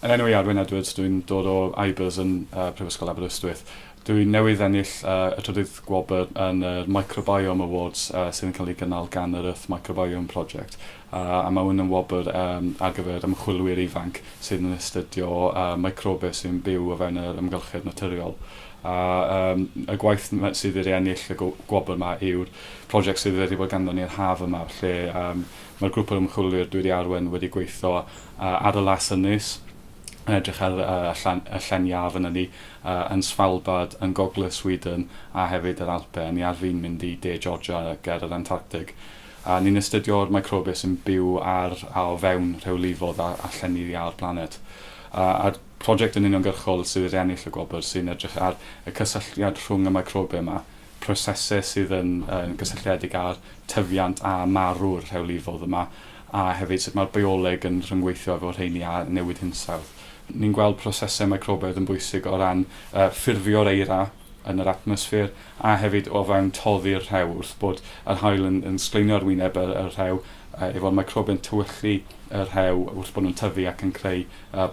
Yn enw i Arwyn Edwards, dw i'n dod o IBERS yn Prifysgol Aberystwyth. Dw i newydd ennill y trydydd gwobr yn yr Microbiome Awards sydd yn cael ei gynnal gan yr Earth Microbiome Project a mae hwn yn wobr ar gyfer ymchwilwyr ifanc sydd yn astudio microbes sy'n byw o fewn yr amgylchedd naturiol a y gwaith sydd wedi ennill y gwobr yma yw'r prosiect sydd wedi bod ganddo ni yr haf yma lle mae'r grŵp o ymchwilwyr dwi wedi arwain wedi gweithio Adelas yn nes, yn edrych ar y llen iâ fynna ni, yn Svalbard, yn gogledd Sweden a hefyd yr Alpe. Ni ar fin mynd i De Georgia ger yr Antarctig. Ni'n astudio'r microbiau sy'n byw ar a o fewn rhewlifod a llenni'r iâ o'r blaned. A'r project yn uniongyrchol sydd wedi ennill y gwobr sy'n edrych ar y cysylltiad rhwng y microbiau yma, prosesau sydd yn gysylltiedig â'r tyfiant a marw'r rhewlifod yma, a hefyd sut mae'r bioleg yn rhyngweithio efo rheini a newid hinsawdd. Ni'n gweld prosesau microbaidd yn bwysig o ran ffurfio'r eira yn yr atmosffer a hefyd o fewn toddi'r rhew wrth bod yr haul yn yn sgleinio ar wyneb y y rhew efo'r microbiau'n tywyllu y rhew wrth bod nhw'n tyfu ac yn creu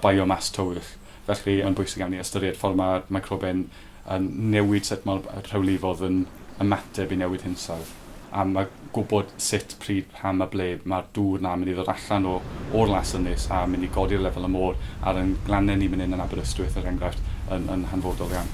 biomas tywyll. Felly yn bwysig iawn i ystyried ffordd mae'r microbiau'n a newid sut mae'r rhewlifodd yn ymateb i newid hinsawdd, a a gwybod sut, pryd, pam a ble mae'r dŵr 'na yn mynd i ddod allan o o'r Las Ynys a mynd i godi'r lefel y môr ar ein glannau ni man hyn yn Aberystwyth, er enghraifft, yn yn hanfodol iawn.